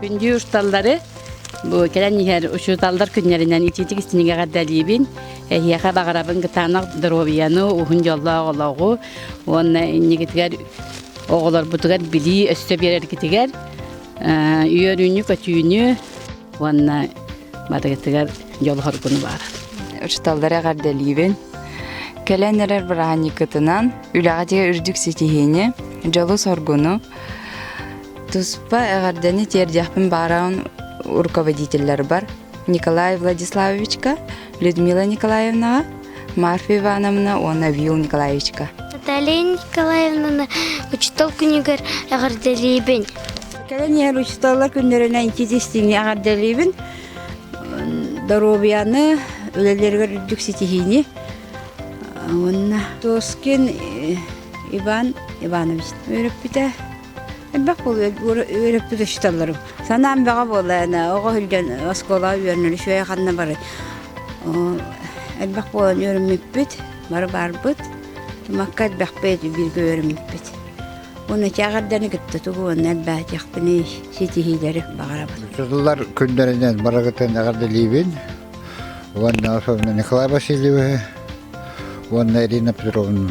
Күндүү усталлары бу кэлэн иһэр учууталлар күннэринэн итиитик истинигэҕэрдэлиибин. Эһиэхэ баҕарабын кытаанах доруобуйаны, уһун дьоллоох олоҕу уонна иннигитигэр оҕолорбутугар билии өссө биэрэргитигэр үөрүүнү-көтүүнү уонна барыгытыгар дьолу-хоргуну бааран. Учууталлары эҕэрдэлиибин. Кэлэн эрэр бырааһынньыккытынан үлэҕитигэр үрдүк ситиһиини, дьолу-соргуну Туспа эҕэрдэни тиэрдиэхпин баарын руководителларбар Николай Владиславовичка, Людмила Николаевнаҕа, Марфа Ивановна уонна Вил Николаевичка. Наталья Николаевна учуутал күнүгэр эҕэрдэлиибин. Кэлэн иһэр учууталлар күннэринэн итис истиҥи эҕэрдэлиибин. Доруобуйаны, үлэлэригэр үрдүк ситиһиини. Уонна Тоскин Иван Иванович өрөппүтэ. Элбэх буолуо үөрөппүт учууталларым. Санаам бөҕө буолла аны оҕо сылдьан оскуолаҕа үөрэнэр үчүгэй ханна барай. Элбэх буолан үөрэммиппит, бары баарбыт. Тумакка элбэхпит бииргэ үөрэммиппит. Уонна чааҕырданы кытта тугуонна элбээтиэхпиний ситиһиилэри баҕарабын. Учууталлар күннэринэн барыгытын эҕэрдэлиибин. Уонна особенно Николай Васильевы, уонна Ирина Петровну.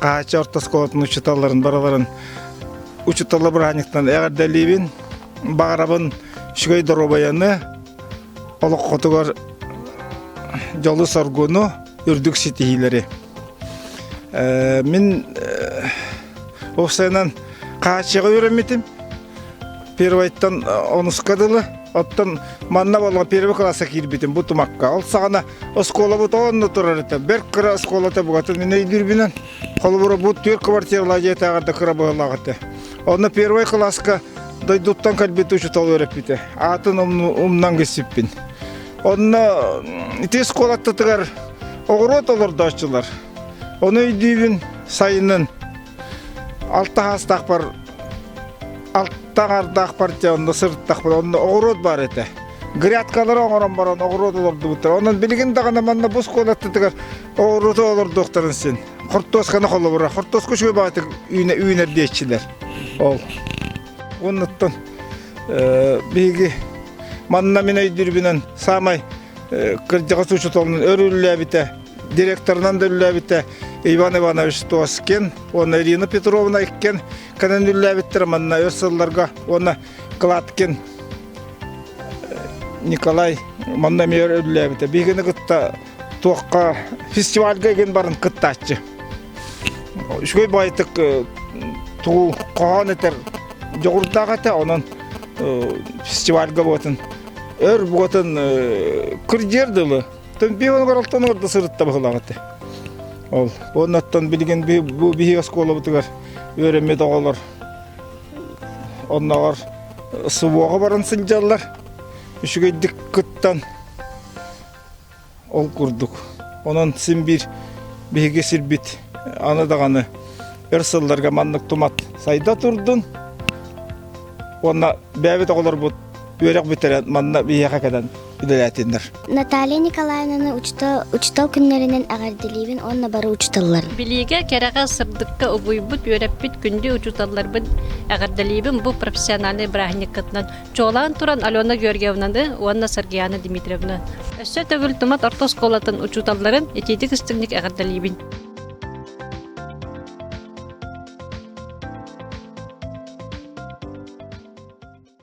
Хаача орто оскуолатын учууталларын барыларын учууталла бырааниктан эҕэрдэлиибин баҕарабын үчүгэй доруобайаны олоххотугар дьолу соргуну үрдүк ситиһиилэри мин уопсайынан хааччыга үөрэммитим Первойтан онуска дылы, оттон манна болго первый класса киирбитим бу тумакка. Ол саҕана оскуолабыт онно турар это. Берг кыра оскуолата бугатын мен өйдүрбүнэн. Холобура бу түр квартирла диэтаҕарда кыра быһылаҕыты. Онно первый класска дойдуттан кэлбит учутол өрөппүтэ. Атын умнан гыссиппин. Онно ити оскуолаттатыгар оҕуруот олордооччулар. Оны өйдүүбүн сайынын алта хаастаахпар алта аҥардаахпар онно сырыттахпын онно оҕуруот баар этэ грядкалары оҥорон баран оҕуруот олордубуттар онон билигин даҕаны манна бу оскуолаттытыгар оҕуруоту олордуохтарын син хортуосканы холобура хортуоска үчүгэй баҕатык үүнэр диэччилэр ол оннуттан биһиги манна мин өйдүүрбүнэн саамай кырдьаҕас учууталын өрүллээбитэ директорынан да үллээбитэ Иван Иванович Тоскин уонна Ирина Петровна Иккен кэнэн үллээбиттэрэ манна өр сылларга уонна Кладкин Николай манна эмиэр үллээбитэ биигини кытта туохха фестивальга игин барын кыттааччы үчүгэй баайтык туу хоһоон этер дьоҕурдаах этэ онон фестивальга буотун өр буотун кырдиэр дылы Тен биһ онугар алтан орда сырытта быһылаҕыты. Ол оннаттан билигин бу биһи оскуолабытыгар үөрэммит оҕолор онногор субуоҕа баран сылдьаллар үчүгэйдик кыттан ол курдук онон син биир биһиги сирбит аны даҕаны өр сылларга маннык тумат сайда турдун уонна бэбит оҕолорбут үөрэх бүтэрэн манна биһиэхэ кэлэн үлэлээтиннэр. Наталья Николаевнаны учутал, учутал күннэринэн эҕэрдэлиибин уонна бары учуталлар. Билиигэ, кэрэҕэ, сырдыкка угуйбут, үөрэппит күндү учуталларбын эҕэрдэлиибин бу профессиональнай бырааһынньыккытынан. Чуолаан туран Алена Георгиевнаны уонна Сергеяна Дмитриевна. Өссө төгүл Тумат орто оскуолатын учуталларын итиитик истиҥник эҕэрдэлиибин.